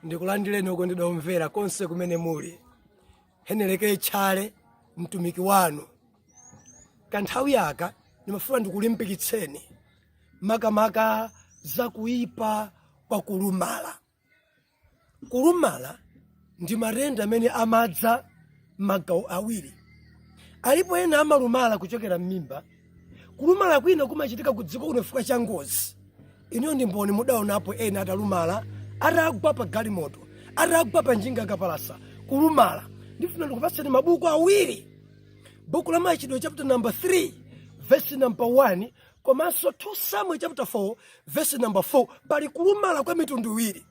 ndikulandireni okondedwa omvera konse kumene muli heneleke tchale mtumiki wanu kanthawi yaka ndimafuna ndikulimbikitseni makamaka za kuipa kwa kulumala kulumala ndi matenda amene amadza m'magawo awiri alipo ena amalumala kuchokera m'mimba kulumala kwina kumachitika ku dziko kuno chifukwa cha ngozi inuyo ndi mboni mudaonapo ena atalumala atagwa pa galimoto atagwa pa njinga yakapalasa kulumala ndifuna ndikupatseni mabuku awiri buku la machitidwe chapter number 3 verse number 1 komanso 2 samuel chapter 4 verse number 4 pali kulumala kwa mitundu iwiri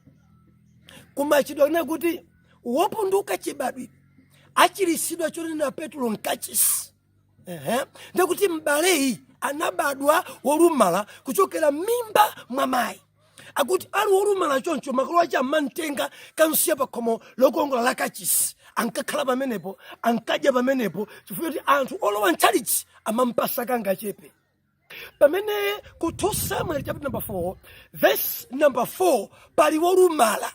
ku machitidwe akunena kuti wopunduka chibadwire achirisidwa chonena petulo mkachisi ndikuti m'baleyi anabadwa wolumala kuchokera m'mimba mwa mayi akuti ali wolumala choncho makolo ache amamtenga kukamsiya pa khomo lokongola la kachisi ankakhala pamenepo ankadya pamenepo chifukwa choti anthu olowa mtchalichi amampasa kangachepe pamene ku 2 samuel chapter number 4 verse number 4 pali wolumala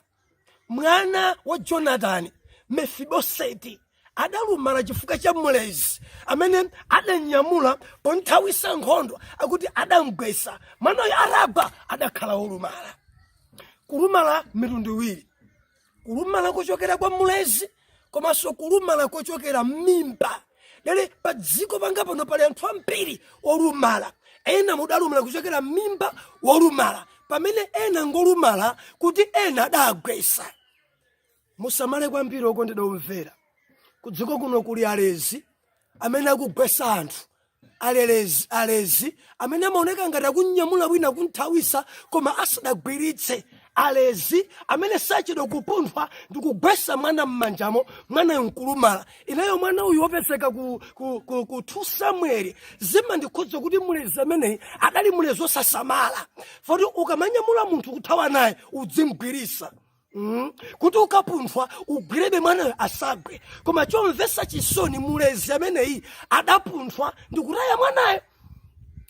mwana wa jonatani mefiboseti adalumala chifukwa cha mlezi amene adamnyamula ponthawisa nkhondo akuti adamgwesa mwanayo atagwa adakhala wolumala kulumala mitundu iwiri kulumala kuchokera kwa mlezi komanso kulumala kochokera m'mimba lero pa dziko panga pano pali anthu ambiri olumala ena ndi olumala kuchokera m'mimba wolumala pamene ena ngolumala kuti ena adawagwesa musamale kwambiri okondedwa omvera kudziko kuno kuli alezi amene akugwesa anthu alelezi alezi amene amaoneka ngati akunyamula wina kumthawisa koma asadagwiritse alezi amene sachedwa kupunthwa ndi kugwesa mwana m'manjamo mwanayo nkulumala ineyo mwana uyu wopezeka ku 2 samueli zimandikhudza kuti mulezi ameneyi adali mulezi wosasamala poti ukamanyamula munthu kuthawa naye udzimgwirisa kuti ukapunthwa ugwirebe mwanayo asagwe koma chomvetsa chisoni mulezi ameneyi adapunthwa ndikutaya mwanayo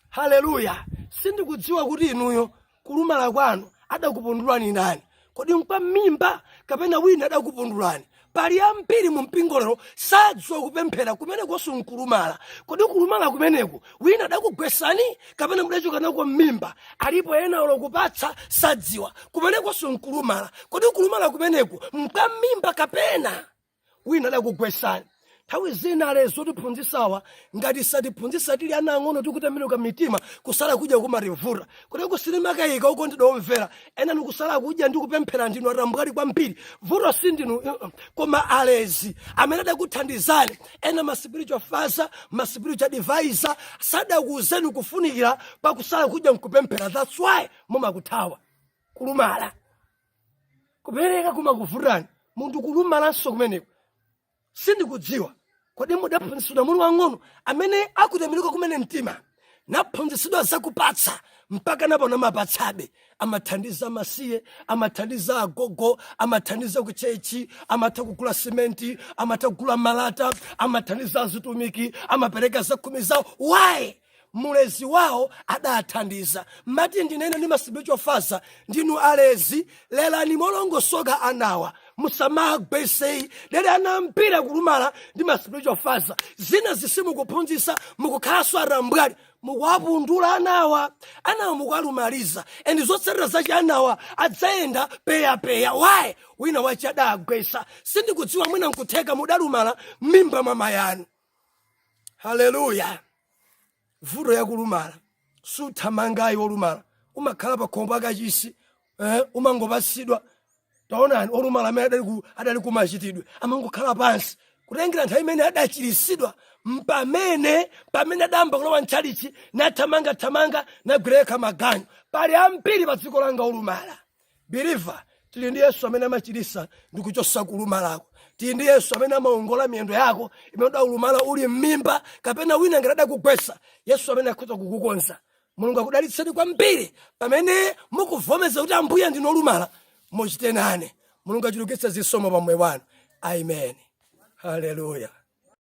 haleluya sindikudziwa kuti inuyo kulumala kwanu adakupundulani ndani kodi nkwa mmimba kapena wina adakupundulani pali ambiri mu mpingo lero sadziwa kupemphera kumenekonso nkulumala kodi kulumala kumeneku wina adakugwesani kapena mudachoka nako mmimba alipo ena olo kupatsa sadziwa kumenekonso nkulumala kodi kulumala kumeneku nkwa mmimba kapena wina adakugwesani nthawi zina alezi otiphunzisawa ngati satiphunzisa tili ana ang'ono tikutembenuka mitima kusala kudya kumativuta kuti kusilimakaika okondedwa omvera ena nikusala kudya ndi kupemphera ndinu atambwali kwambiri vuto si ndinu uh, uh, koma alezi amene adakuthandizani ena ma spiritual father ma spiritual advisor sadakuuzeni kufunikira kwa kusala kudya nkupemphera that's why mumakuthawa kulumala kupereka kumakuvutani munthu kulumalanso kumeneko sindikudziwa kodi mudaphunzitsidwa muli wang'ono amene akutembenuka kumene mtima naphunzitsidwa zakupatsa mpaka napano amapatsabe amathandiza amasiye amathandiza agogo amathandiza kuchechi amatha kugula simenti amatha kugula malata amathandiza azitumiki amapereka zakhumi zawo why mulezi wawo adathandiza mati ndinene ndi ma spiritual father ndinu alezi lelani molongosoka anawa musamagwese ayi dere ana ambiri akulumala ndi ma spiritual father zinazi simukuphunzisa mukukhalanso atambwali mukuwapundula anawa anawa mukuwalumaliza and zotsatira zache anawa adzayenda peyapeya why wina wache adagwesa sindikudziwa mwina nkutheka mudalumala m'mimba mwa mayanu haleluya vuto yakulumala suthamanga ayi olumala umakhala pakhomo la kachisi eh, umangopasidwa taonani olumala amene adali ku- adali kumachitidwe amangokhala pansi kutengera nthawi imene adachirisidwa mpamene pamene adayamba kulowa mtchalichi nathamangathamanga nagwira yekha maganyu pali ambiri pa dziko langa olumala believer tili ndi yesu amene amachirisa ndi kuchosa kulumalako tili ndi yesu amene amaongola miyendo yako imene udalumala uli m'mimba kapena wina ngati adakugwesa yesu amene akhoza kukukonza mulungu akudalitseni kwambiri pamene mukuvomeza kuti ambuye ndine olumala muchite nane mulungu achulukitse zisomo pa moyo wanu amen haleluya